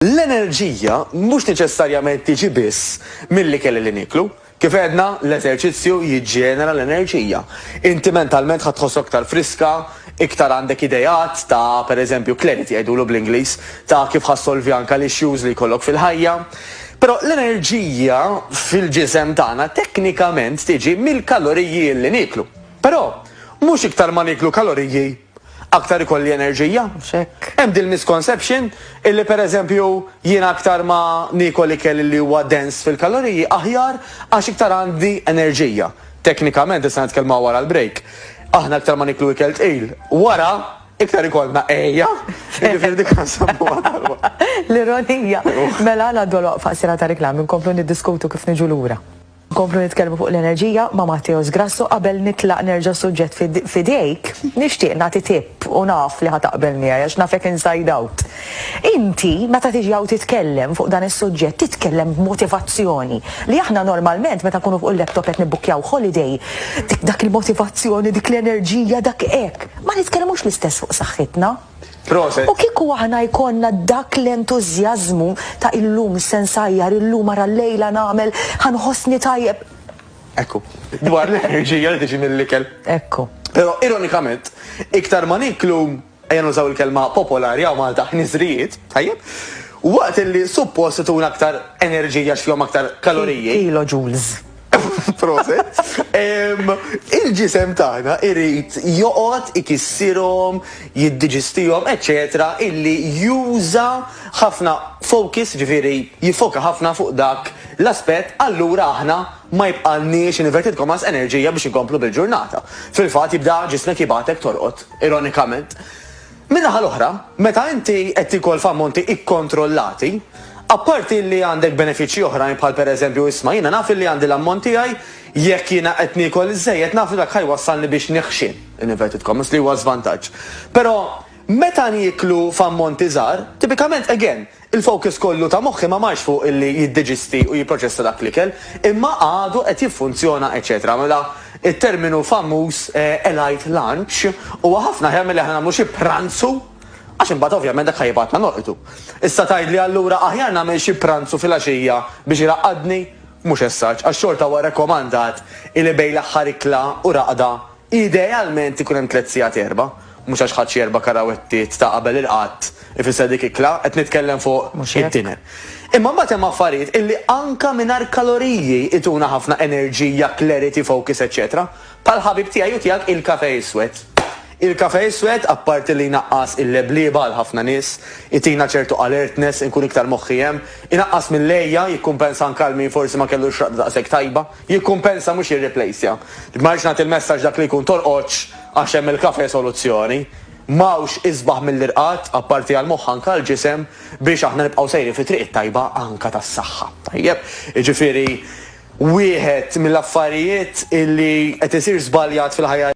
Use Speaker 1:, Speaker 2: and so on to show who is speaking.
Speaker 1: L-enerġija mhux neċessarjament tiġi biss mill-ikel li nieklu. Kif għedna, l-eżerċizzju jiġġenera l-enerġija. Inti mentalment ħa tħossok iktar friska, iktar għandek ideat ta', per eżempju, clarity jgħidulu bl-Ingliż, ta' kif ħa ssolvi anke l-issues li jkollok fil-ħajja. Però l-enerġija fil-ġisem tagħna teknikament tiġi mill-kaloriji li nieklu. Però, mhux iktar ma nieklu kaloriji aktar ikolli enerġija. X'hekk. Hemm din il-misconception illi pereżempju jiena aktar ma niekol ikel illi huwa dense fil-kaloriji aħjar għax iktar għandi enerġija. Teknikament, issa nitkellmuha wara l-break, aħna aktar ma nieklu ikel tqil, wara iktar ikollna għejja, jiġifieri dik nsemmuha talba. L-ironija. Mela ngħaddu għal waqfa qasira ta' riklami nkomplu niddiskutu kif niġu lura. Nkomplu nitkellmu fuq l-enerġija ma' Matteos Grasso qabel nitlaq nerġa' s-suġġett f'idejk. Nixtieq nagħti tip u naf li ħa taqbel miegħi għax nafek inside out. Inti meta tiġi hawn titkellem fuq dan is-suġġett titkellem b'motivazzjoni li aħna normalment meta nkunu fuq il-laptop qed nibbukkjaw holiday dik dak il-motivazzjoni dik l-enerġija dak hekk ma nitkellmux l-istess fuq saħħitna. Proset! U kieku aħna jkollna dak l-entużjażmu ta' illum se nsajjar, illum ara llejla nagħmel, ħa nħossni tajjeb. Ekku. Dwar l-enerġija li tiġi mill-ikel. Ekku. Però ironikament, iktar ma nieklu, ejja nużaw il-kelma popolari hawn Malta, ħniżrijiet, tajjeb, waqt li suppost ituna aktar enerġija għax fihom aktar kaloriji. Kilojoules. Proset. Il-ġisem tagħna irid joqgħod ikissirhom, jiddiġistihom, eċċetera, illi juża ħafna focus, ġifieri jiffoka ħafna fuq dak l-aspett, allura aħna ma jibqalniex, in inverted commas, enerġija biex inkomplu bil-ġurnata. Fil-fatt jibda ġismek jibgħatek torqod, ironikament. Min-naħa l-oħra, meta inti qed tiekol f'ammonti ikkontrollati, apparti li għandek benefiċċji oħrajn bħal pereżempju isma' jiena naf illi għandi l-ammont tiegħi, jekk jiena qed niekol iżżejjed naf li dak ħa jwassalni biex neħxien, in inverted commas, li huwa żvantaġġ. Però meta nieklu f'ammonti żgħar, tipikament again, Il-fokus kollu ta' moħħi ma marx fuq illi jiddeġisti u jipproċessa dak l-ikel, imma għadu qed jiffunzjona eċċetera Mela, it-terminu famuż elite lunch huwa ħafna aħjar milli aħna nagħmlu xi pranzu, għax imbagħad ovvjament dak ħa jibgħatna norqdu. Issa tgħidli allura aħjar nagħmel xi pranzu filgħaxija biex iraqqadni? Mhux as-such, għax xorta huwa rekomandat illi bejn l-aħħar ikla u raqda Idealment ikun hemm tliet sigħat erba', mhux għax ħadt xi erba' karawettiet ta' qabel il-qatt ifisser dik ikla, qed nitkellem fuq id-dinner. Imma mbagħad hemm affarijiet illi anka mingħajr kaloriji jtuna ħafna enerġija, clarity, focus eċċetera bħal ħabib tiegħi u tiegħek il-kafè iswed. Il-kafè iswed apparti li jnaqqas il-leblieba għal ħafna nies, itina ċertu alertness, inkun iktar moħħi hemm, inaqqas mill-għeja, jikkumpensa anke għal min forsi ma kellu x-xraqda daqshekk tajba. Jikkumpensa mhux jirriplejsja. Ma rridx nagħti l-messaġġ dak li jkun torqodx għax hemm il-kafe soluzzjoni. M'hawnx isbaħ mill-irqad, apparti għall-moħħ anke għall-ġisem, biex aħna nibqgħu sejrin fit-triq it-tajba anke tas-saħħa. Tajjeb? Jiġifieri wieħed mill-affarijiet li qed isir żbaljat fil-ħajja,